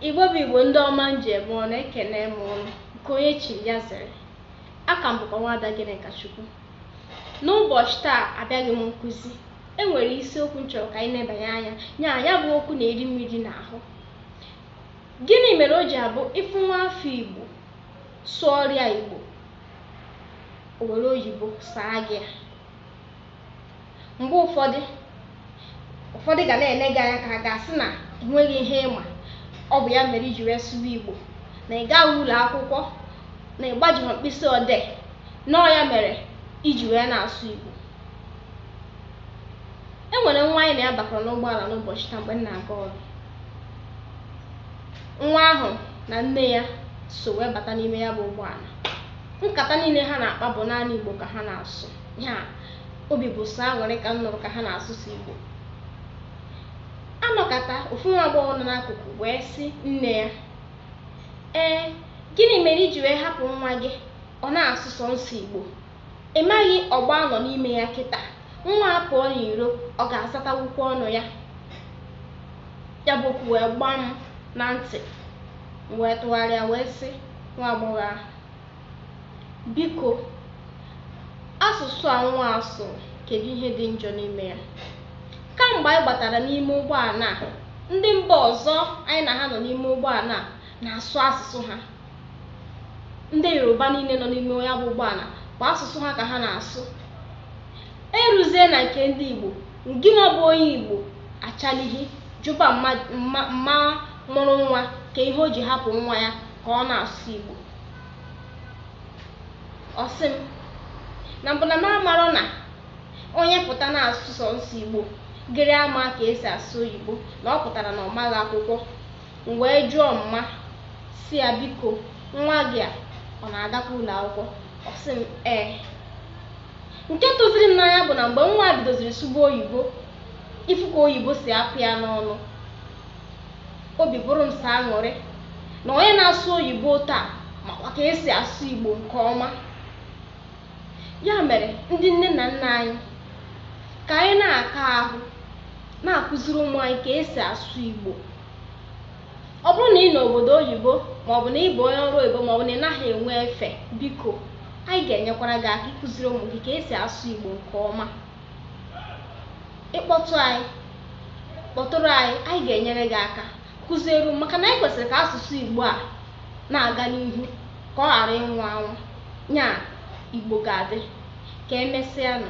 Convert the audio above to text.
Igbo bụ Igbo ndị ọma m ji eme ọnụ ekene m ụnụ nke onye chiri ya zere aha m bụkwa nwada Gịnịkachukwu n'ụbọchị taa abịaghị m nkụzi e nwere isiokwu m chọrọ ka anyị nebanye anya na ya bụ okwu na-eri m eri n'ahụ gịnị mere o ji abụ ị fụ nwa afọ Igbo sụọrọ ya Igbo o were oyibo saa gị ya mgbe ụfọdụ ụfọdụ ga na-ele gị anya ka ha ga-asị na enweghị ihe ị ma ọ bụ ya mere i ji wee sụwa igbo na ị gaghị ụlọ akwụkwọ na ị gbajighị mkpịsị odee na ọọ ya mere i ji wee na-asụ igbo e nwere nwa anyị na ya bakọrọ n'ụgbọala n'ụbọchị taa mgbe m na-aga ọrụ nwa ahụ na nne ya so wee bata n'ime ya bụ ụgbọala nkata niile ha na-akpa bụ naanị igbo ka ha na-asụ ya obi bụ sọ aṅụrị ka m nụrụ ka ha na-asụ sọ Igbo anọkata ofu nwa agbọghọ nọ n'akụkụ wee sị nne ya ee gịnị mere i ji wee hapụ nwa gị ọ na-asụ sọnsọ Igbo ị maghị ọgbọ a nọ n'ime ya kịta nwa a pụọ n'iro ọ ga-asatanwukwa ọnụ ya ya bụ okwu wee gbaa m na ntị m wee tụgharịa wee sị nwa agbọghọ ahụ Biko, asụsụ a nwa a sụrụ, kedụ ihe dị njọ n'ime ya? Kamgbe anyị gbatara n'ime ụgbọala a, ndị mba ọzọ anyị na ha nọ n'ime ụgbọala a na-asụ asụsụ ha. Ndị Yoruba niile nọ n'ime ya bụ ụgbọala bụ asụsụ ha ka ha na-asụ. Eruzie na nke ndị Igbo, ngịnwa bụ onye Igbo achalighị jụba mma mụrụ nwa kee ihe o ji hapụ nwa ya ka ọ na-asụ Igbo. ọ sị m na mbụ na m amarọ na onye pụta na-asụ sọnsọ igbo ghara ama ka esi asụ oyibo na ọ pụtara na ọ maghị akwụkwọ m wee jụọ mma sị ya biko nwa gị a ọ na-agakwa ụlọ akwụkwọ ọ sị m ee nke tụziri m n'anya bụ na mgbe nwa bidoziri sụba oyibo ị fụ ka oyibo si apụ ya n'ọnụ obi bụrụ m sọ aṅụrị na onye na-asụ oyibo taa makwa ka esi asụ igbo nke ọma ya mere ndị nne na nna anyị ka anyị na-aka ahụ na-akụziri ụmụ anyị ka esi asụ igbo ọ bụrụ na ị nọ obodo oyibo maọbụ na ị bụ onye ọrụ oyibo maọbụ na ị naghị enwe efe biko anyị ga-enyekwara gị aka ịkụziri ụmụ gị ka esi asụ igbo nke ọma ị kpọtụ anyị kpọtụrụ anyị anyị ga-enyere gị aka kụziere maka na anyị kwesịrị ka asụsụ igbo a na-aga n'ihu ka ọ ghara ịnwụ anwụ nya igbo ga-adị ka emesịa nụ